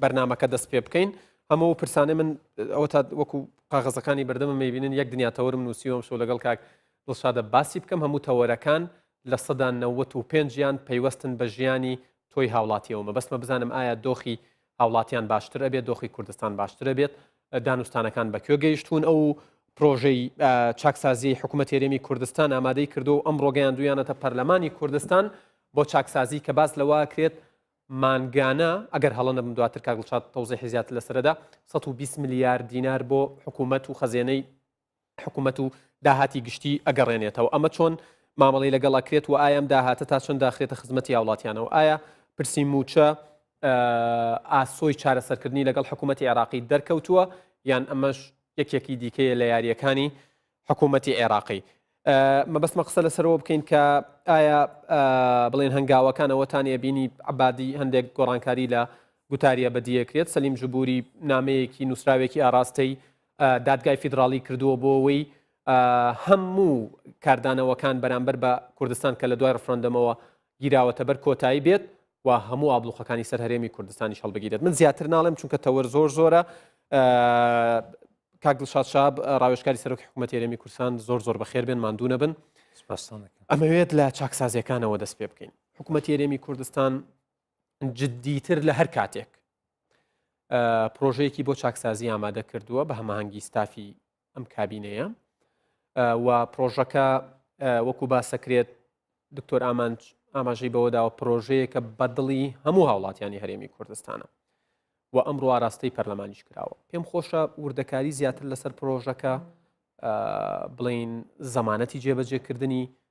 بەرنمەکە دەست پێ بکەین ئەمە و پرسانێ من ئەوە تا وەکو قاغەزەکانی بەردەمە میبینن یەک دنیا تەورم نووسیوەم شو لەگەڵ کاک دڵشادە باسی بکەم هەموو تەوەرەکان لە سەدا 95 یان پەیوەستن بە ژیانی تۆی هاوڵاتیەوەمە بەسمە بزانم ئایا دۆخی هاوڵاتیان باشتر ئەبێت دۆخی کوردستان باشترە بێت دانوستانەکان بەکوێ گەیشتون ئەو پرۆژەی چاکسازی حکوومەت تێرێمی کوردستان ئامادەی کردو ئەم ڕۆگەیان دویانەتە پەرلەمانی کوردستان بۆ چاکسازی کە باس لەوە کرێت مانگانە، ئەگەر هەڵە نەبم دواتر کاک دڵشاد تەوزیحی زیاتر لەسەر دەدا، سەد و بیست ملیار دینار بۆ حکوومەت و خەزێنەی حکوومەت و داهاتی گشتی ئەگەڕێنێتەوە، ئەمە چۆن مامەڵەی لەگەڵ ئەکرێت و ئایا ئەم داهاتە تا چەند داخرێتە خزمەتی هاوڵاتیانەوە؟ ئایا پرسی مووچە ئاسۆی چارەسەرکردنی لەگەڵ حکوومەتی عێراقی دەرکەوتووە یان ئەمەش یەکێکی دیکەیە لە یارییەکانی حکوومەتی عێراقی؟ مەبەستمە قسە لەسەرەوە بکەین کە ئایا بڵێن هەنگاوەکان ئەوەتان ئەبینی عبادی هەندێک گۆڕانکاری لە گوتاریە بەدیەکرێت سەلیم جبووری نامەیەکی نووسراوێکی ئاراستەی دادگای فیدراڵی کردووە بۆەوەی هەموو کاردانەوەکان بەرامبەر بە کوردستان کە لە دوای ڕفراندەمەوە گیراوەتە بەر کۆتایی بێت و هەموو ئابلوقەکانی سەر هەرێمی کوردستانیش هەڵبگیرێت من زیاتر ناڵێم چونکە تەوەر زۆر زۆرە کاک دڵشاد شاب ڕاوێشکاری سەرۆکی حکوومەت هەرێمی کورسان زۆر زۆر بەخێر بێن ماندوو نەبن ئەمەوێت لە چاکسازیەکانەوە دەست پێ بکەین حکوومەت هەرێمی کوردستان جددیتر لە هەر کاتێک پرۆژەیەکی بۆ چاکسازی ئامادە کردووە بە هەماهەنگی ستافی ئەم کابینەیە و پرۆژەکە وەکو باسەکرێت دکتۆر ئامانج ئاماژەی بەوەداوە پرۆژەیەکە بەدڵی هەموو هاوڵاتیانی هەرێمی کوردستانە و ئەمڕۆ ئاراستەی پەرلەمانیش کراوە پێم خۆشە وردەکاری زیاتر لەسەر پرۆژەکە بڵین زەمانەتی جێبەجێکردنی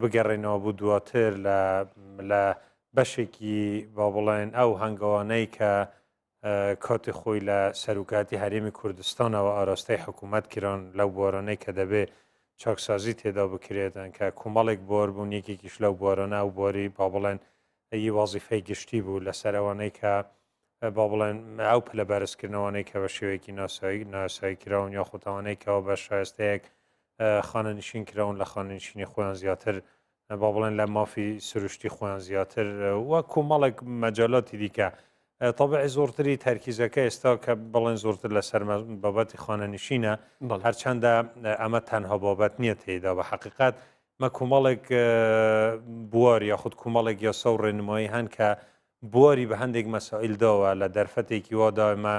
بگەڕێنەوە بو دواتر لە لە بەشێکی با بڵێن ئەو هەنگەوانەی کە کاتی خۆی لە سەروکاتی هەرێمی کوردستانەوە ئاراستەی حکوومەت کران لەو بۆرانەی کە دەبێ چاکسازی تێدا بکرێتن کە کومەڵێک بۆر بوون یەکێکیش لەو بۆرانە و بۆری با بڵێن ئی وازیفەی گشتی بوو لەسەر ئەوانەی کە با بڵێن ئەو پلە بەرزکردنەوەی کە بە شێوەیەکی ناسایی ناسایی کراون یا خۆتاوانەی کەەوە بە شایستەیەک خانە نشین کراون لە خانە نشینی خۆیان زیاتر با بڵێن لە مافی سروشتی خۆیان زیاتر و کۆمەڵێک مەجالاتی دیکە طبعی زۆرتری تەرکیزەکە ئێستا کە بڵێن زۆرتر لەسەر بابەتی خانە نشینە هەرچەندە ئەمە تەنها بابەت نییە تێدا بە حقیقت مە کۆمەڵێک بوار یا خود کۆمەڵێک یاسا و ڕێنمایی هەن کە بواری بە هەندێک مەسائیل داوە لە دەرفەتێکی وا دایمە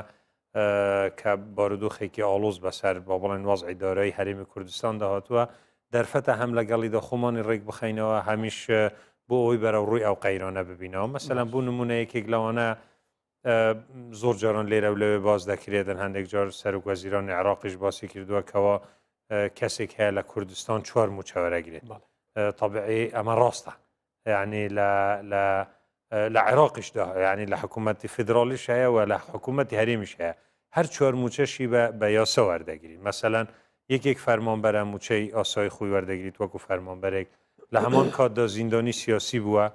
کە بارودۆخێکی ئاڵۆز بەسەر با بڵێن وەزعی دارایی هەرێمی کوردستان داهاتووە دەرفەتە هەم لەگەڵی دە خۆمانی ڕێک بخینەوە هەمیش بۆ ئەوی بەرە ڕووی ئەو قەیرانە ببینەوە مەسەلەن بوو نمونەیەکێک لەوانە زۆر جاران لێرە و لەوێ باز دەکرێتن هەندێک جار سەرک وەزیران عێراقیش باسی کردووە کەەوە کەسێک هەیە لە کوردستان چوار موچەوەرەگرێت طبعی ئەمە ڕاستە یانی لە لە لە عێراقیش دا یانی لە حکوومەتی فیدراڵیش هەیە و لە حکوومەتی هەرێمیش هەیە هەر چوار موچەشی بە بە یاسە وەردەگری مەسەلەن یەکێک فەرمانبەرە موچەی ئاسایی خۆی وەردەگریت وەکو فەرمانبەرێک لە هەمان کاتدا زیندانی سیاسی بووە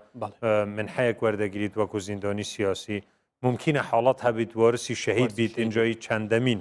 من حەیەک وەردەگریت وەکو زیندانی سیاسی ممکنە حاڵەت هەبیت وارسی شەهید بیت ئینجایی چەندەمین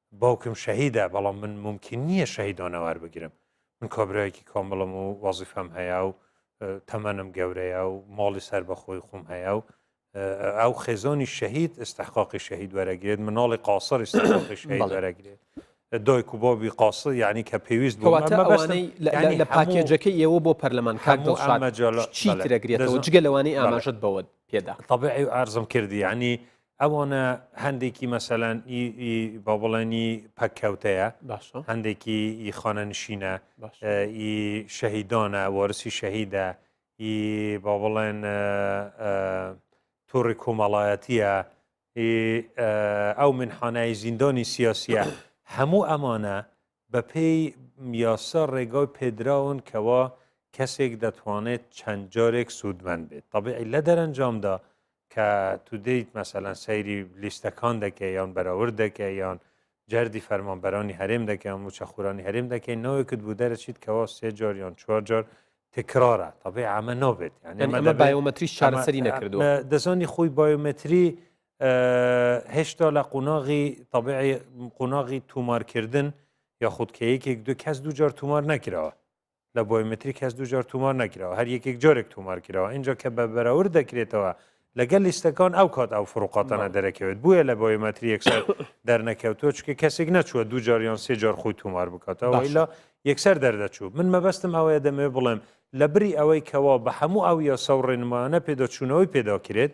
باوکم شەهیدە بەڵام من مومکین نییە شەهیدانە وەربگرم من کابراایەکی کامڵم و وەزیفەم هەیە و تەمەنم گەورەیە و ماڵی سەر بەخۆی خۆم هەیە و ئەو خێزانی شەهید استحقاقی شەهید وەرەگرێت مناڵی قاسر استحقاقی شەهید وەرەگرێت دایک و بابی قاس یعنی کە پێویست لە پاکێجەکە ئێوە بۆ پەرلەمان کاکدڵشادمەجالەگرێتەوە جگە لەوانەی ئاماژت بەوە پێدا طبعی ئارزم کردی ینی ئەوانە هەندێکی مەسەلەن بە بڵێنی پەککەوتەیە هەندێکی ئی خانەنشینە ئی شەهیدانە وەرسی شەهیدە ئی با بڵێن تووڕی کۆمەڵایەتیە ئەو منحانای زیندانی سیاسیە هەموو ئەمانە بەپێی یاسا ڕێگای پێدراون کەوا کەسێک دەتوانێت چەند جارێک سوودمەند بێت تەبیعی لە دەرەنجامدا کە تو دێیت مەسەلەن سەیری لیستەکان دەکەی یان بەراورد دەکەی یان جەردی فەرمانبەرانی هەرێم دەکەی یان موچەخورانی هەرێم دەکەی ناوێکت بۆ دەرەچیت کەوا سێ جار یان چوار جار تکرارە تەبیعی ئەمە نابێت یانی ئەمە بایۆمەتریش چارەسەری نەکردووە دەزانی خۆی بایۆمەتری هێشتا لە قۆناغی تەبعی قۆناغی تومارکردن یاخود کە یەکێک دو کەس دوجار تومار نەکراوە لە بۆیمەتری کەس دوجار تومار نەکراوە هەر یەکێک جارێک تومار کراوە اینجا کە بە بەراور دەکرێتەوە لەگەل لیستەکان ئەو کات ئەو فروقاتانە دەرەکەوێت بویە لە بۆیمەتری یەکسەر دەرنەکەوتوە چکە کەسێک نەچووە دو جاریان سێ جار خۆی تومار بکاتەوە ئیلا یەکسەر دەردەچوو من مەبەستم ئەوەیە دەمەوێت بڵێم لە بری ئەوەی کەوا بە هەموو ئەو یاسا و ڕێنمایانە پێداچوونەوەی پێداکرێت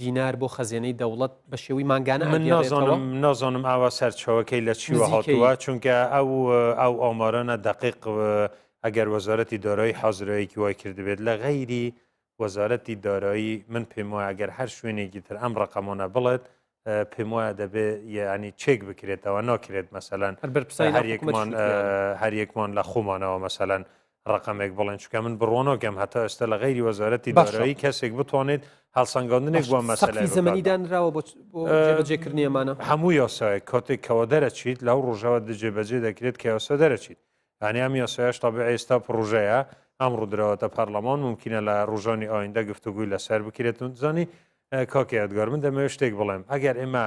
دینار بۆ خەزێنەی دەوڵەت بە شێوەی مانگانە من نازانم نازانم ئاوا سەرچەوەکەی لە چیوە هاتووە چونکە ئەو ئەو ئامارانە دقیق ئەگەر وەزارەتی دارایی حازرەیەکی وای کردبێت لە غەیری وەزارەتی دارایی من پێم وایە ئەگەر هەر شوێنێکی تر ئەم ڕقەمانە بڵێت پێم وایە دەبێ یعنی چێک بکرێتەوە ناکرێت مەسەەن هەر یەکمان لە خۆمانەوە مەسەەن ڕەقەمێک بڵێن چونکە من بڕۆنۆکەم هەتا ئێستا لە غیری وەزارەتی دارایی کەسێک بتوانێت هەڵسەنگاندنێک بۆ مەسەلای زمانی دانراوە بۆجێکردنی ئەمانە هەموو یاسای کاتێک کەەوە دەرەچیت لەو ڕژەوە دجێ بەجێ دەکرێت کە یاسا دەرەچیت ئەنیام یاسایش تابع ئێستا پرۆژەیە ئەم ڕوودراوەتە پەرلەمان ممکنە لە ڕژانی ئایندە گفتوگوی لەسەر بکرێتون زانی کاکەیادگار من دەمەوێت شتێک بڵێم ئەگەر ئێمە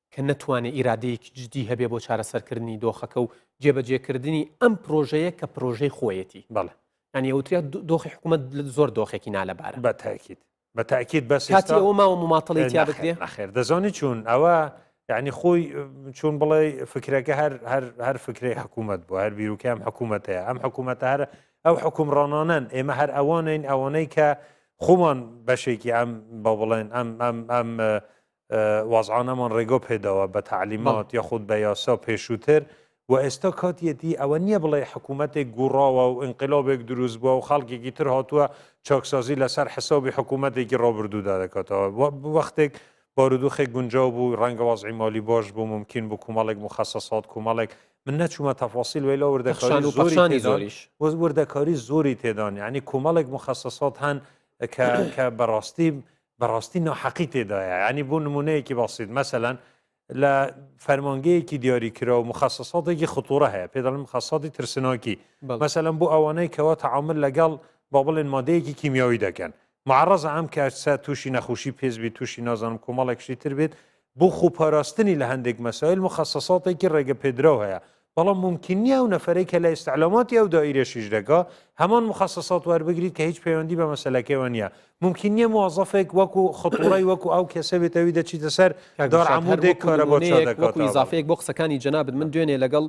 کە نەتوانێ ئیرادەیەکی جدی هەبێ بۆ چارەسەرکردنی دۆخەکە و جێبەجێکردنی ئەم پرۆژەیە کە پرۆژەی خۆیەتی بەڵێ یانی ئەوتریا دۆخی حکوومەت زۆر دۆخێکی نالەبارە بە تاکیت بە تاکیت بەس کاتی ئەوە ماوە مماتڵی تیا بکرێ نەخێر دەزانی چوون ئەوە یعنی خۆی چون بڵێ فکرەکە هەر هەر هەر فکری حکوومەت بۆ هەر بیرروکەم حکوومەتەیە ئەم حکوومەتە هەر ئەو حکومڕانانەن ئێمە هەر ئەوانین ئەوانەی کە خۆمان بەشێکی ئەم بە بڵێن ئەم ئەم ئەم وازعانەمان ڕێگۆ پێداوە بە تەعلیمات یاخود بە یاسا پێشووتر و ئێستا کاتیەتی ئەوە نییە بڵێ حکوومەتێک گوڕاوە و ئینقلابێک دروست بووە و خەڵکێکی تر هاتووە چاکسازی لەسەر حسابی حکوومەتێکی ڕابردوودا دەکاتەوە وەختێک بارودوخێک گونجاو بوو ڕەنگە وازعی مالی باش بوو ممکن بوو کومەڵێک مخصصات کومەڵێک من نەچوومە تەفاسیل ویلا وردەکاری زۆری زۆریش وردەکاری زۆری تێدان یعنی کومەڵێک مخصصات هەن کە کە بەڕاستی بەڕاستی ناحەقی تێدایە یانی بۆ نمونەیەکی بەسیت مەسەلەن لە فەرمانگەیەکی دیاریکراو مخصصاتێکی خطورە هەیە پێ دەڵم خەسەتی ترسناکی مەسەلەن بۆ ئەوانەی کەەوە تعامل لەگەڵ با بڵێن مادەیەکی کیمیاوی دەکەن معڕز ئەم کارسە تووشی نەخوشی پێزبی تووشی نازانم کۆمەڵێکشی تر بێت بۆ خۆپاراستنی لە هەندێک مەسایل موخەسەساتێکی ڕێگەپێدراو هەیە، بەڵام مومکین نییە ئەو نەفەرەی کە لە ئیستعلاماتی ئەو دائیرەش ئیش دەکا، هەمان موخەسەسات وەربگریت کە هیچ پەیوەندی بە مەسەلەکەیەوە نییە. مومکین نییە موەزەفێک وەکو خطوڕەی وەکو ئەو کەسە بێت ئەوی دەچیتە سەر کاک دار دڵشاد، هەر عەمودێک وەکو کارەبا چا نموونەیەک، وەکو دەکاتەوە. بەڵێ. ئیزافەیەک بۆ قسەکانی جەنابت، من دوێنێ لەگەڵ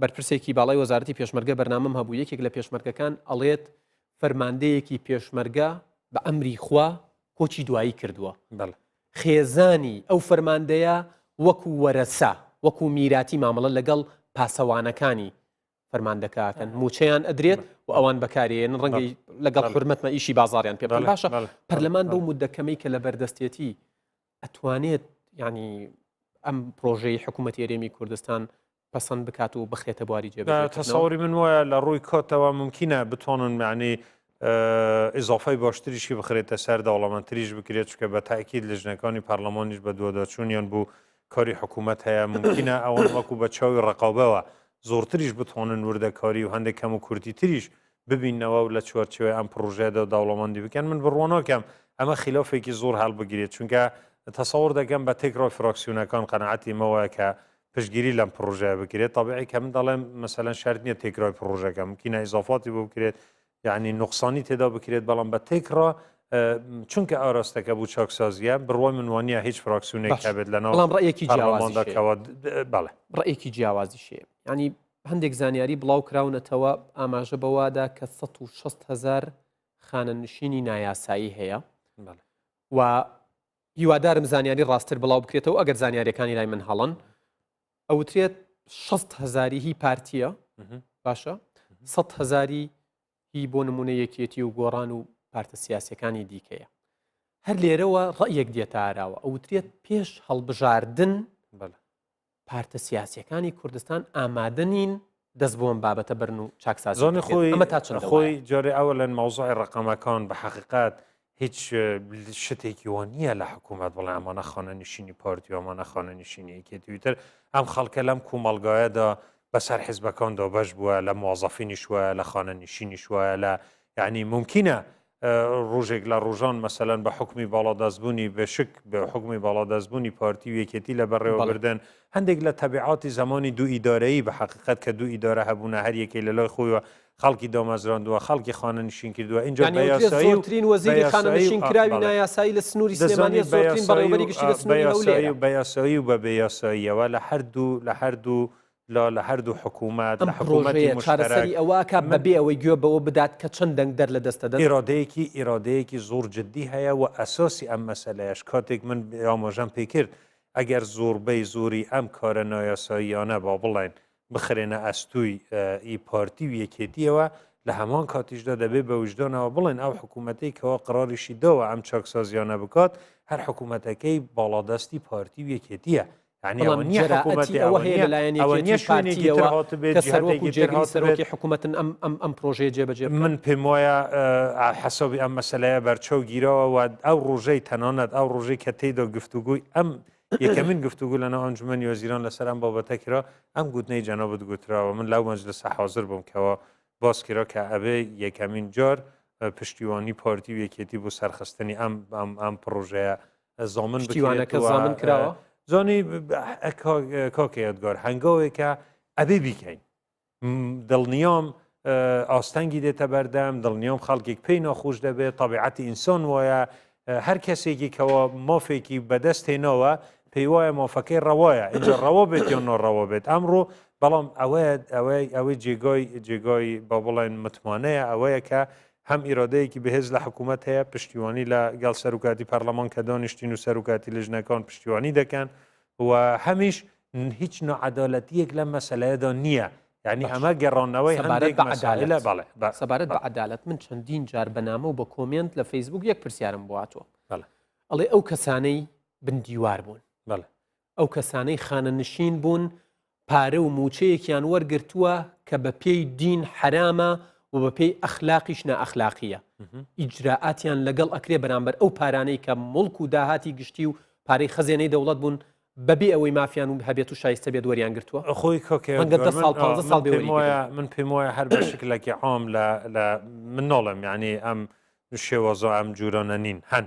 بەرپرسێکی باڵای وەزارەتی پێشمەرگە بەرنامەم هەبوو، یەکێک لە پێشمەرگەکان ئەڵێت فەرماندەیەکی پێشمەرگە بە ئەمری خوا کۆچی دوایی کردووە. بەڵێ. خێزانی ئەو فەرماندەیە وەکو وەرەسە، وەکو میراتی مامەڵە لەگەڵ پاسەوانەکانی فەرماندەکە ئەکەن، مووچەیان ئەدرێت و ئەوان بەکارێن ڕەنگە لەگەڵ حورمەتمە ئیشی بازاڕیان پێ بکەن. باشە پەرلەمان بەو مدە کەمەی کە لە بەردەستێتی ئەتوانێت ینی ئەم پرۆژەی حکوومەت هێرێمی کوردستان پەسەند بکات و بخرێتە بواری جێبەجێکردنەوە؟ تەسەوری من وایە لە ڕووی کۆتەوە مومکینە بتوانن معنی ئیزافای باشتریشی بخرێتە سەر دەوڵەمەندتریش بکرێت چکە بە تاکیید لەژنەکانی پەرلەمانیش بە دووەداچوونیان بوو کاری حکوومەت هەیە ممکنە ئەوان وەکو بە چاوی ڕقابەوە زۆرتریش بتوانن وردەکاری و هەندێک کەم و کورتی تریش ببینەوە و لە چوارچێوەی ئەم پرۆژەدا دەوڵەمەندی بکەن من بڕوانۆکەم ئەمە خلافێکی زۆر هەڵبگرێت چونکە تەسەور دەکەم بە تێکڕای فراکسیونەکان قەنەعەتی مەوەیە کە پشتگیری لەم پڕۆژەیە بکرێت تەبعی کە من دەڵێم مەسەلەن شرت نییە تێکرای پڕۆژەکە ممکنە ئیزافاتی بۆ بکرێت یعنی نقصانی تێدا بکرێت بەڵام بە تێکڕا چونکە ئاراستەکە بوو چاکسازیە بڕوای منوانە هیچ فراکسیونێک هەبێت لە ناوڵام ڕێکی جیاوازەکەەوە بەڵێ ڕێکی جیاوازی شێ ینی هەندێک زانیاری بڵاو کراونەتەوە ئاماژە بەوادا کە 1600 هزار خانە نشینی نایاسایی هەیە و هیوادارم زانیاری ڕاستتر بڵاو بکرێتەوە ئەگەر زانیاریەکانی لای من هەڵەن ئەوترێت شەست هزاری هی پارتیە باشە سە هزاری هی بۆ نمونە یەکێتی و گۆڕان و پارتە سیاسەکانی دیکەیە هەر لێرەوە ڕەیەک دێتاراوە ئەوترێت پێش هەڵبژاردن پارتە سیاسیەکانی کوردستان ئامادە نین دەست بۆم بابەتە بەرن و چاکساز زۆنی خۆی ئەمە تا چ خۆی جۆرە ئەوە لەن مەوزای ڕقەمەکان بە حقیقات هیچ شتێکی وە نییە لە حکوومەت بڵێ ئەمانە خانە نشینی پارتی و ئەمانە خانە نشینیەکی تویتر ئەم خەڵکە لەم کومەلگایەدا بەسەر حیزبەکان دۆبەش بووە لە موازەفینیش وایە لە خانە نشینیش وایە لە یعنی ممکنە ڕوژێک لە ڕوژان مەسەلەن بە حوکمی باڵادەست بوونی بەشک بە حوکمی باڵادەست بوونی پارتی و یەکێتی لە بەڕێوە بردن هەندێک لە تەبیعاتی زەمانی دوو ئیدارەیی بە حەقیقەت کە دوو ئیدارە هەبوونە هەر یەکەی لە لای خۆیوە خەڵکی دامەزراندووە خەڵکی خانەنشین کردووە ئینجا بە یاسایی و ترین وەزیری خانەنشین کراوی نایاسایی لە سنووری سلێمانی زۆرترین بەڕێوەبەری گشتی لە سنووری هەولێرە بە یاسایی و بە بێ یاساییەوە لە هەردوو لە هەردوو لۆ لە هەردوو حکوومەت، لە حکوومەتی مشتەرەک، من. بەبێ ئەوەی گوێ بەوە بدات کە چەند دەنگدەر لە دەستە دەست. ئیرادەیەکی ئیرادەیەکی زۆر جددی هەیە و ئەساسی ئەم مەسەلەیەش کاتێک من ئاماژەم پێ کرد ئەگەر زۆربەی زۆری ئەم کارە نایاساییانە با بڵێن بخرێنە ئەستووی ئی پارتی و یەکێتییەوە لە هەمان کاتیشدا دەبێ بە ویژدانەوە بڵێن ئەو حکوومەتەی کەوا قەراریشی داوە ئەم چاکسازییانە بکات هەر حکوومەتەکەی باڵادەستی پارتی و یەکێتییە بەڵام جەرائەتی ئەوە هەیە لەلایەن یەکێتی پارتییەوە کە سەرۆک و جێگری سەرۆکی حکوومەتن ئەم پرۆژەیە جێبەجێ بکەن؟ من پێم وایە حەسەبی ئەم مەسەلەیە بەرچاو گیرەوە و ئەو ڕۆژەی تەنانەت ئەو ڕۆژەی کە تێیدا گفتوگوی ئەم یەکەمین گفتوگو لەناو ئەنجومەنی وەزیران لەسەر ئەم بابەتە کرا ئەم گوتنەی جەنابت گوتراوە من لەو مەجلسە حاضر بووم کەەوە باس کرا کە ئەبێ یەکەمین جار پشتیوانی پارتی و یەکێتی بۆ سەرخستنی ئەم ئەم پڕۆژەیە زامن بکرێت و زامن کراوە زۆنی کاکە یادگار هەنگاوێکە ئەبێ بیکەین دڵنیام ئاستەنگی دێتە بەردەم دڵنیام خەڵکێک پێی ناخۆش دەبێت طبیعەتی ئینسان وایە هەر کەسێکی کەەوە مافێکی بەدەست هێناوە پێی وایە مافەکەی ڕەوایە اینجا ڕەوە بێت یا نۆڕەوە بێت ئەمڕۆ بەڵام ئەوەیە ئەوەی ئەوەی جێگای جێگای با بڵێن متمانەیە ئەوەیە کە هەم ئیرادەیەکی بەهێز لە حکوومەت هەیە، پشتیوانی لە گەڵ سەروکاتی پارلەمان کە دانیشتین و سەروکاتی لیژنەکان پشتیوانی دەکەن و هەمیش هیچ ناعەدالەتییەک لەم مەسەلەیەدا نییە. یانی ئەمە گەڕانەوەی هەندێک مەسەلە بەڵێ سەبارەت بە عەدالەت من چەندین جار بە نامە و بە کۆمێنت لە فەیسبووک یەک پرسیارم بۆ هاتووە بەڵێ ئەڵێ ئەو کەسانەی بن دیوار بوون بەڵێ ئەو کەسانەی خانەنشین بوون پارە و مووچەیەکیان وەرگرتووە کە بە پێی دین حرامە و بە پێی ئەخلاقیش نائەخلاقیە ئیجرراعاتیان لەگەڵ ئەکرێ بەرامبەر ئەو پارانەی کە مڵک و داهاتی گشتی و پارەی خەزێنەی دەوڵەت بوون بەبێ ئەوەی مافیان و هەبێت و شایستە بێت وەریان گرتووە خۆی کۆکێگە ساڵ ساڵ من پێم وایە هەر بە شکلێکی عام لە من نۆڵم یعنی ئەم شێوەزۆ ئەم جوورۆنە نین هەن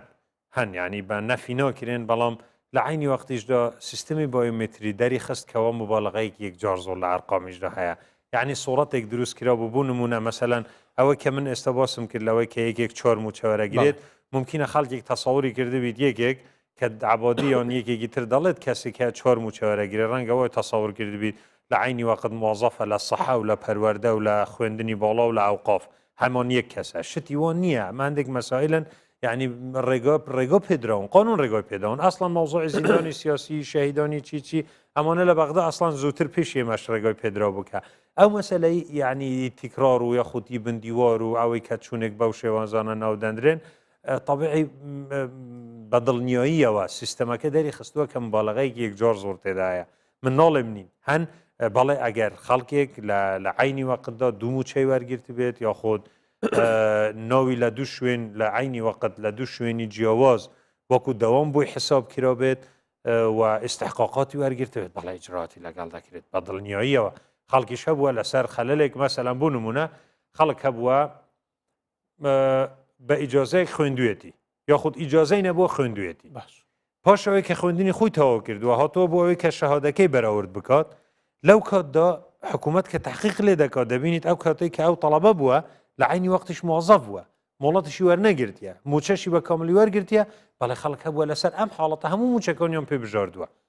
هەن یانی بە نەفی ناکرێن بەڵام لە عەینی وەقتیشدا سیستمی بایۆمەتری دەریخست کەوا مبالغەیەکی یەکجار زۆر لە ئەرقامیشدا هەیە یعنی سوڕەتێک دروست کرابوو بۆ نمونە مەسەلەن ئەوەی کە من ئێستا باسم کرد لەوەی کە یەکێک چۆر موچە وەرەگرێت ممکنە خەڵکێک تەسەوری کردبیت یەکێک کە عبادی یان یەکێکی تر دەڵێت کەسێک هەیە چۆر موچە وەرەگرێت ڕەنگە وای تەسەور کردبیت لە عینی وەقت موازەفە لە سەحە و لە پەروەردە و لە خوێندنی باڵا و لە ئەوقاف هەمۆن یەک کەسە شتی وۆ نییە ماندێک مەسائلن یعنی ڕێگۆ ڕێگۆ پێدراون قانون ڕێگۆی پێداون ئەسڵان مەوزۆی زیندانی سیاسی شەهیدانی چی چی ئەمانە لە بەغدا ئەسڵان زووتر پێش ئێمەش ڕێگۆی پێدرا بکە ئەو مەسلەی یعنی تیکرار و یاخودی بندیوار و ئەوەی کە چوونێک بەو شێوانزانە ناودەندرێن طبعی بەدڵنیاییەوە سیستەمەکە دەری خستووە کەم باڵغەیەکی یەکجار زۆر تێدایە من ناڵێم نین هەن بەڵێ ئەگەر خەڵکێک لە عینی وەقتدا دوم و چی وەرگرت بێت یا خۆت ناوی لە دوو شوێن لە عینی وەقت لە دوو شوێنی جیاواز وەکو دەوام بووی حساب کرا بێت و ئستحقاقاتی وەرگرتێت بەڵ ئجراتی لەگەڵ دەکرێت بە دڵنیاییەوە خەڵکیش هەبووە لەسەر خەلەلێک مەسەلەن بوو نمونە خەڵک هەبووە بە ئیجازەیەک خوێندوێتی یاخود ئیجازەی نەبووە خوێندوێتی باش پاش ئەوەی کە خوێندنی خۆی تەواو کردووە هاتۆ بۆ ئەوەی کە شەهادەکەی بەراورد بکات لەو کاتدا حکوومەت کە تحقیق لێ دەکات دەبینیت ئەو کاتێک کە ئەو تەڵەبە بووە لە عینی وەختیش موازەف بووە مۆڵەتشی وەرنەگرتیە موچەشی بە کاملی وەرگرتیە بەڵێ خەڵک هەبووە لەسەر ئەم حاڵەتە هەموو موچەکانیان پێ بژاردووە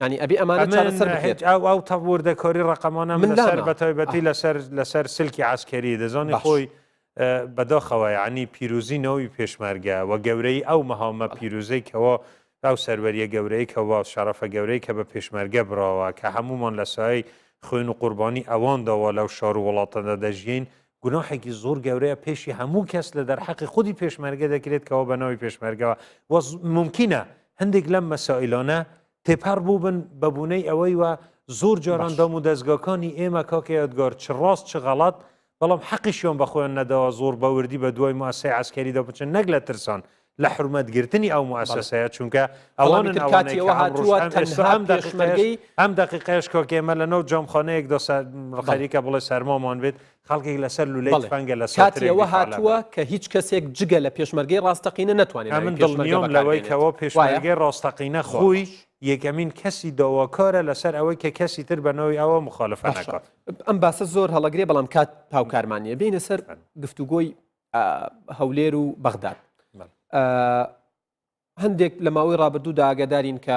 یانی ئەبی ئەمانە چارەسەر بکرێت. ئەمن هیچ ئەو تەڤ وردە کۆری ڕەقەمانەم من لەسەر بە تایبەتی لەسەر لەسەر سلکی عەسکەری دەزانی خۆی بە داخەوە یانی پیروزی ناوی پێشمەرگە و گەورەی ئەو مەهامە پیروزەی کەوا ئەو سەروەریە گەورەی کەوا شەڕەفە گەورەی کە بە پێشمەرگە براوە کە هەموومان لە سایەی خوێن و قوربانی ئەوان داوا لەو شار و وڵاتەدا دەژیین گوناحێکی زۆر گەورەیە پێشی هەموو کەس لە دەرحەقی خودی پێشمەرگە دەکرێت کەەوە بە ناوی پێشمەرگەوە وە ممکنە هەندێک لەم مەسائلانە تێپەر بوو بن بەبوونەی ئەوەی وە زۆر جاران دام و دەستگاکانی ئێمە کاکە یادگار چ ڕاست چ غەڵات بەڵام حەقیشیان بەخۆیان نەداوە زۆر بەوردی بە دوای ماسای عسکەریدا بچن نەک لە ترسان لە حورمەت گرتنی ئەو موئەسەسەیە چونکە ئەوانن ئەوانەی کە ئەمڕۆش ئەم ئێستا ئەم دەقیقەیەش ئەم دەقیقەیەش کۆ کێمە لە نۆ جۆم خۆنەیەک دۆ سا خەریکە بڵێ سەرمۆمان بێت خەڵکێک لەسەر لولەی تفەنگە لە سات کاتیەوە هاتووە کە هیچ کەسێک جگە لە پێشمەرگەی ڕاستەقینە نەتوانێت ئەمن دڵنیام لەوەی کەەوە پێشمەرگەی ڕاستەقینە خۆی یەکەمین کەسی داواکارە لەسەر ئەوەی کە کەسی تر بەنەوەی ئەوە مخالفە نەکات ئەم باسە زۆر هەڵەگرێ بەڵام کات هاوکارمانە بینە سەر گفتوگۆی هەولێر و بەغداد هەندێک لە ماوەی ڕابردوو داگەدارین کە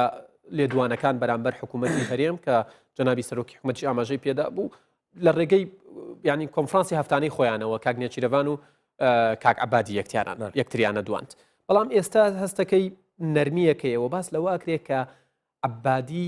لێدوانەکان بەرامبەر حکوومەتی هەرێم کە جەنابی سەرۆکی حکومەتی ئاماژەی پێدا بوو لە ڕێگەی ینی کۆنفرانسی هەفتانەی خۆیانەوە کاک نێچیرەوان و کاک عبادی یەکتیانان یەکتریانە دوانند بەڵام ئێستا هەستەکەی نەرمیەکەیەوە باس لەوە ئەکرێت کە عبادی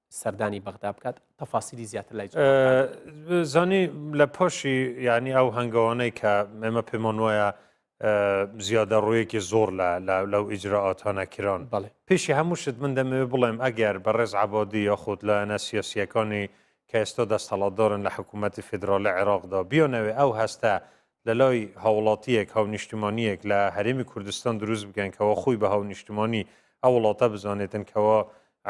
سەردانی بەغدا بکات تەفاسیلی زیاتر لای زانی لە پۆشی یعنی ئەو هەنگەوانەی کە ئێمە پێمان وایە زیادە ڕوویەکی زۆر لە لەو ئیجرراعاتانە کران بڵێ پێشی هەموو شت من دەمەوێ بڵێم ئەگەر بە ڕێز عبادی یاخود لایەنە سیاسیەکانی کە ئێستا دەستەڵاتدارن لە حکوومەتتی فیدراالە عێراقدا بیانەوێ ئەو هەستە لەلای هاوڵاتییەک، هاونیشتمانییەک لە هەرێمی کوردستان دروست بکەن کەوا خۆی بە هاونیشتمانی ئەو وڵاتە بزانێتن کەوا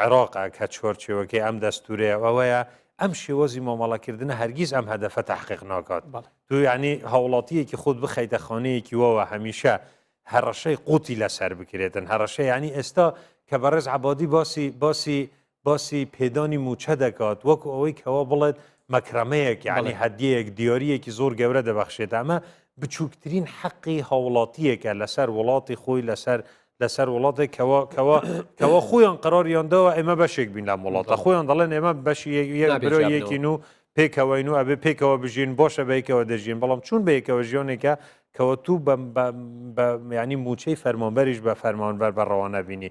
عێراقە کە چوارچێوەکەی ئەم دەستوورەیە ئەوەیە ئەم شێوازی مامەڵەکردنە هەرگیز ئەم هەدەفە تەحقیق ناکات تو یعنی هاوڵاتییەکی خۆت بخەیتە خانەیەکی وەوە هەمیشە هەڕەشەی قوتی لەسەر بکرێتن هەڕەشە یعنی ئێستا کە بەڕێز عەبادی باسی باسی باسی پێدانی مووچە دەکات وەکو ئەوەی کەوا بڵێت مەکرەمەیەک یعنی هەدیەیەک دیاریەکی زۆر گەورە دەبەخشێت ئەمە بچووکترین حەقی هاوڵاتیەکە لەسەر وڵاتی خۆی لەسەر لەسەر وڵاتێک کەەوە کەەوە کەەوە خۆیان قراریاندەوە ئێمە بەشێک بین لە وڵاتە خۆیان دەڵێن ئێمە بەشی یەکبرۆیەکین و پێکەوەین و ئەبێ پێکەوە بژین بۆشە بەیکەوە دەژین بەڵام چون بەیەکەوە ژیۆنێکە کەوە تو ینی موچەی فەرمانبەریش بە فەرمانبەر بە ڕەوانە بینی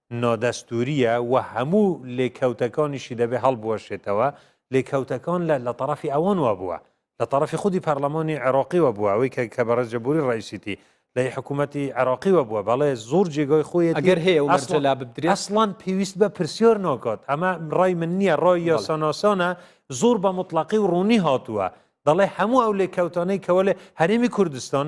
نادەستوورییە و هەموو لێکەوتەکانیشی دەبێ هەڵبوەشێتەوە، لێکەوتەکان لە لە تەڕەفی ئەوانوە بووە، لە تەڕەفی خودی پەڕڵەمانی عێڕاقیوە بووە، ئەوەی کە کە بەڕێز جەبووری ڕەئیسیتی لەی حکوومەتی عێڕاقیوە بووە، بەڵێ زۆر جێگای خۆیەتی، ئەگەر هەیە و مەرجە لا ببدرێ. ئەسڵەن پێویست بە پرسیار ناکات، ئەمە ڕای من نییە، ڕای بەڵێ. یاساناسانە، زۆر بە موتڵەقی و ڕوونی هاتووە، دەڵێ هەموو ئەو لێکەوتانەی کە وەلێ هەرێمی کوردستان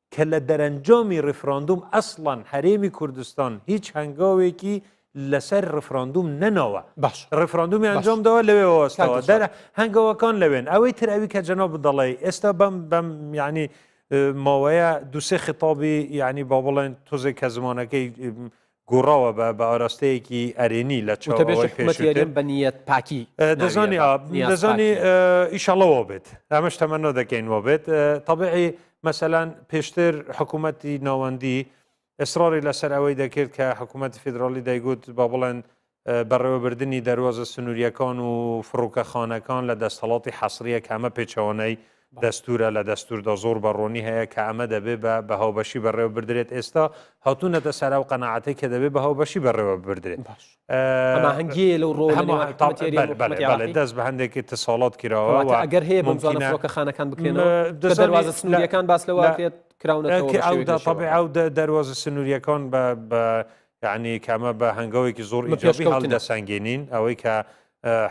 کە لە دەرەنجامی ڕیفراندوم ئەسڵەن هەرێمی کوردستان هیچ هەنگاوێکی لەسەر ڕیفراندوم نەناوە باش ڕیفراندومی باش ئەنجام داوە لەوێ کاک وەستاوە دڵشاد. دەرە هەنگاوەکان لەوێن ئەوەی تر ئەوی کە جەنابت دەڵێی ئێستا بەم بەم یعنی اه، ماوەیە دوو سێ خیتابی یعنی با بڵێن تۆزێک کە زمانەکەی اه، گوڕاوە بە بە ئاراستەیەکی ئەرێنی لە چاو وتەبێژی ئەوەی حکومەتی پێشووتر هەرێم بە نیەت پاکی اه، ناویە دەزانی بە ئا، نیاز دەزانی پاکی. اه، ئیشەڵا وا بێت ئەمەش تەمەنا دەکەین وا بێت اه، تەبعی مەسەلەن پێشتر حکوومەتی ناوەندی ئێسراری لەسەر ئەوەی دەکرد کە حکوومەتی فیدراڵی دەیگوت با بڵێن بەڕێوەبردنی دەروازە سنوورییەکان و فڕۆکەخانەکان لە دەستەڵاتی حەسرییە کە ئەمە پێچەوانەی دەستوورە، لە دەستووردا زۆر بە ڕوونی هەیە کە ئەمە دەبێ بە بە هاوبەشی بەڕێوە بردرێت، ئێستا هاتوونەتە سەر ئەو قەناعەتەی کە دەبێ بە هاوبەشی بەڕێوە ببردرێت. باش. هەماهەنگیی هەیە لەو ڕۆوە لە نێوان حکوومەتی ئێران و حکوومەتی عێراقی؟ بەڵێ، بەڵێ، بەڵێ، دەست بە هەندێک ئیتیصالات کراوە و کەواتە ئەگەر هەیە بەم زووانە فڕۆکەخانەکان بکرێنەوە؟ کە دەروازە سنوورییەکان باس لەوە ئەکرێت کراونەتەوە بە شێوەیەکی شێوەیەکی ئەو دەروازە سنوورییەکان بە یەعنی کە ئەمە بە هەنگەوێکی زۆر ئیجابی هەڵدەسەنگێنین، ئەوەی کە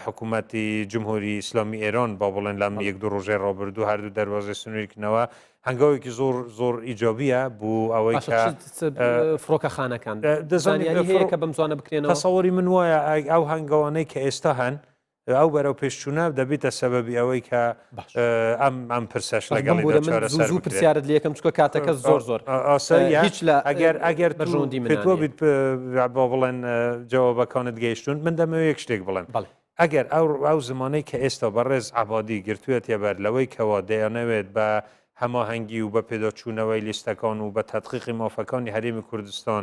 حکوومەتی جمهوری ئیسلامی ئێران با بڵێن لەم یەک دوو ڕۆژەی ڕابردوو هەردوو دەروازەی سنوورکردنەوە هەنگاوێکی زۆر زۆر ئیجابیە بۆ ئەوەی فڕۆکەخانەکان دەزانانی هەیە کە بەم زوانە بکرێنەوە سەوەری من وایە ئەو هەنگاوانەی کە ئێستا هەن ئەو بەرەو پێشچوونە دەبیتە سەبەبی ئەوەی کە ئەم ئەم پرسەش لەگەڵ زوو پرسیارت لەکەم چکە کاتەکە زۆر زۆر هیچ لە ئەگەر ئەگەر بەژوندی منۆ بیت بۆ بڵێن جەوە بەکانت گەیشتون من دەمەوێت یەک شتێک بڵێم بڵێ ئەگەر ئەو ئەو زمانەی کە ئێستا بە ڕێز عبادی گرتووە تێبەر لەوەی کەەوە دەیانەوێت بە هەماهەنگی و بە پێداچوونەوەی لیستەکان و بە تەدقیقی مافەکانی هەرێمی کوردستان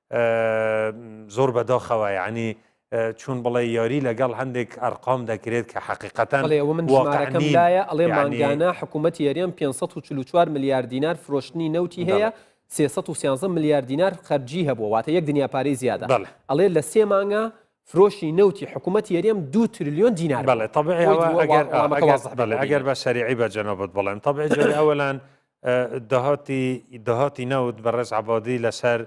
زۆر بەداخەوە یانی چون بڵێ یاری لەگەڵ هەندێک ئەرقام دەکرێت کە حقیقەتەن بەڵێ ئەوە من شمارەکەم واقع نین لایە ئەڵێ یانی مانگانە حکوومەتی یەریان پێنج سەد و چل و چوار ملیار دینار فرۆشتنی نەوتی هەیە بەڵێ سێ سەد و سیانزە ملیار دینار خەرجی هەبووە واتە یەک دنیا پارەی زیادە بەڵێ ئەڵێ لە سێ مانگا فرۆشی نەوتی حکوومەتی یەریەم دوو ترلیۆن دینار بەڵێ بووە تەبعی بۆی ئەوە دووە وا ئەگەر ئا وەڵامەکە ئەگەر وازح بکەی بەڵێ ئەگەر باشەریعی بە جەنابت بڵێم تەبعی جاری ئەوەلەن داهاتی داهاتی نەوت بەڕێز عەبادی لەسەر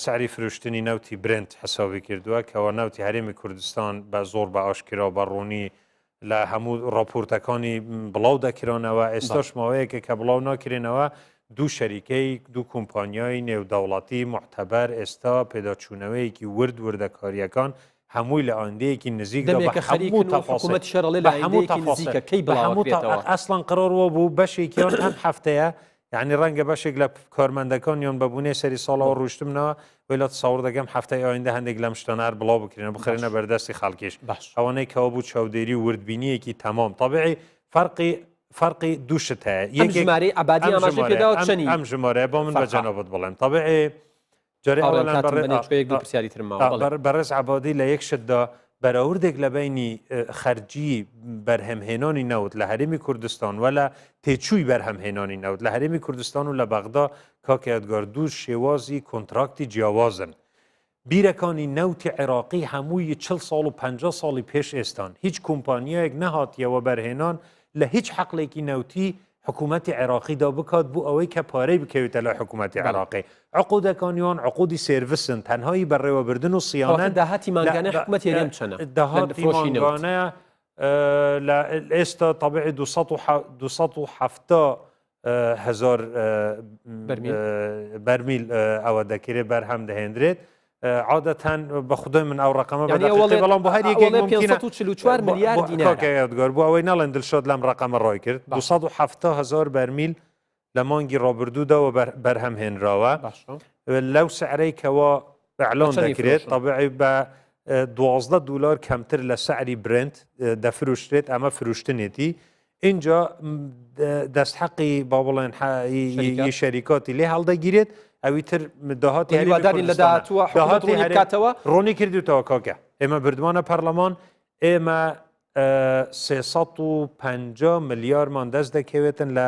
سعری فرۆشتنی نەوتی برنت حسابی کردووە کەەوە نەوتی هەرێمی کوردستان بە زۆر بە ئاشکرا بە ڕوونی لە هەموو ڕاپۆرتەکانی بڵاو دەکرانەوە ئێستاش ماوەیەکە کە بڵاو ناکرێنەوە دوو شەریکەی دوو کۆمپانیای نێودەوڵاتی محتەبەر ئێستا پێداچوونەوەیەکی ورد وردەکاریەکان هەمووی لە ئایندەیەکی نزیکدا بە هەموو تەفەسیل بە هەموو تەفەسیل بە هەموو تەفەسیل ئەسڵەن قڕۆڕ وەبوو بەشێکیان ئەم هەفتەیە یانی ڕەنگە بەشێک لە کارمەندەکان یان بە بوونێ سەری ساڵەوە ڕوشتمنەوە وی لە تەسەوڕ دەکەم هەفتەی ئایندە هەندێک لەم شتانە هەر بڵاو بکرێنە بخرێنە بەردەستی خەڵکیش ئەوانەی کەەوە بوو چاودێری و وردبینیەکی تەمام تەبعی فەرقی فەرقی دوو شت هەیە یەکێک ژمارەی عبادی ئاماژەی پێداوە چەنی ئەم ژمارەیە بۆ من بە جەنابت بڵێم تەبعی جارێ ئەوان بە ڕێ ئا ئا ئا بە بە ڕێز عەبادی لە یەک شت دا بەراوردێک لە بەینی خەرجی بەرهەم هێنانی نەوت لە هەرێمی کوردستان وە لە تێچووی بەرهەم هێنانی نەوت لە هەرێمی کوردستان و لە بەغدا کاک یادگار دوو شێوازی کۆنتراکتی جیاوازن بیرەکانی نەوتی عێراقی هەمووی چل ساڵ و پەنجا ساڵی پێش ئێستان هیچ کۆمپانیایەک نەهاتیە وەبەرهێنان لە هیچ حەقلێکی نەوتی حکومەتی عێراقیدا بکات بو ئەوەی کە پارەی بکەوێتە لای حکومەتی بەڵێ. عێراقی عقودەکانیان عقودی سێرڤسن تەنها هی بەڕێوەبردن و کەواتە صیانەن داهاتی لە مانگانەی بە حکومەتی هەرێم چەنە ئە لە داهاتی فرۆشی نەوت؟ مانگانە ئە لە ئێستا تەبعی دوو سەد و حە دوو سەد و حەفتا ئە هەزار ئە بەرمیل؟ ئە بەرمیل ئە ئەوە دەکرێت بەرهەم دەهێندرێت عادەتەن بە خودۆی من ئەو ڕقەمە بە دەقیقەی بەڵام بۆ هەر یەکێک ممکنە 544 ملیار دینار کاکە یادگار بۆ ئەوەی نەڵێن دلشاد لەم ڕقەمە ڕای کرد 270 هەزار بەرمیل لە مانگی ڕابردوودا و بەرهەم هێنراوە لەو سعرەی کەوا ئەعلان دەکرێت طبعی بە دوازدە دلار کەمتر لە سعری برنت دەفروشتێت ئەمە فروشتنێتی ئینجا دەست حەقی با بڵێن ی شەریکاتی لێ هەڵدەگیرێت ئەوی تر داهاتی هەریواداری لە داهاتوە داهاتی هەرکاتەوە ڕۆنی کردوتەوە کاکە ئێمە بردوانە پەرلەمان ئێمە 350 ملیارمان دەست دەکەوێتن لە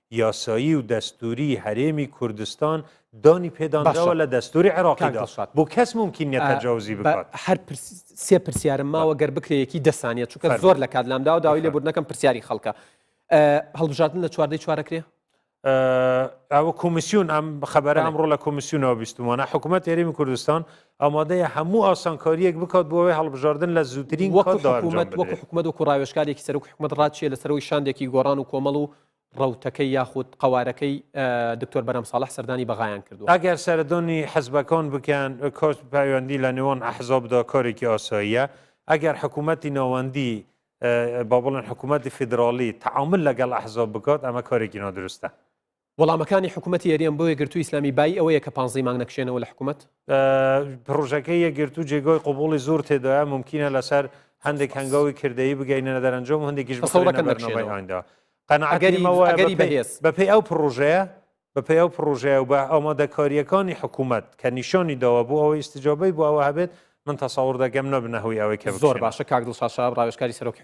یاسایی و دەستووری هەرێمی کوردستان دانی پێدانراوە لە دەستووری عێراقیدا بۆ کەس مومکین نیە تەجاوزی بکات. هەر سێ پرسیارم ماوە گەر بکرێ یەکی دە سانیە چونکە زۆر لە کات لامدا و داوای لێبوردنەکەم پرسیاری خەڵکە هەڵبژاردن لە چواردەی چوارەکرێ ئەوە کۆمیسیون ئەم خەبەرە ئەمڕۆ لە کۆمیسیونەوە بیستمانە حکوومەت هێرمی کوردستان ئامادەیە هەموو ئاسانکاریەک بکات بۆەوەی هەڵبژاردن لە زووترین وەکو حکوومەت وەکو حکوومەت وەکو ڕاوێشکارێکی سەرک حکوومەت ڕاچیە لە سەرەوەی شاندێکی گۆڕان و کۆمەڵ و ڕەوتەکەی یاخود قەوارەکەی دکتۆر بەرام ساڵح سەردانی بەغایان کردووە. ئەگەر سەردونی حزبەکەون بکەن کۆچ پەیوەندی لە نێوان ئەحزاب دا کارێکی ئاساییە، ئەگەر حکوومەتی ناوەندی با بڵێن حکوومەتی فیدراڵی تەعامول لەگەڵ ئەحزاب بکات ئەمە کارێکی نادروستە. وەڵامەکانی حکوومەتی هەرێم بۆ یەکگرتووی ئیسلامی بایی ئەوەیە کە پانزەی مانگ نەکشێنەوە لە حکوومەت؟ پرۆژەکەی یەکگرتو جێگۆی قوبولی زۆر تێدایە ممکنە لەسەر هەندێک هەنگاوی کردەی بگەینە دەرەنجۆم هەندێکیش بەسەڵەکەدا قەنەگەریمەوەگەری بەهێز بەپی ئەو پرۆژەیە بەپی ئەو پرۆژەیە و بە ئەومەدەکاریەکانی حکوومەت کە نیشانی داوە بۆ ئەوەی استجابەی بۆ ئەوە هەبێت من تەسەور دەگەم نەبنەهوی ئەوەی کە زۆر باشە کاک دڵشاشا ڕاوێشکاری سەرۆکی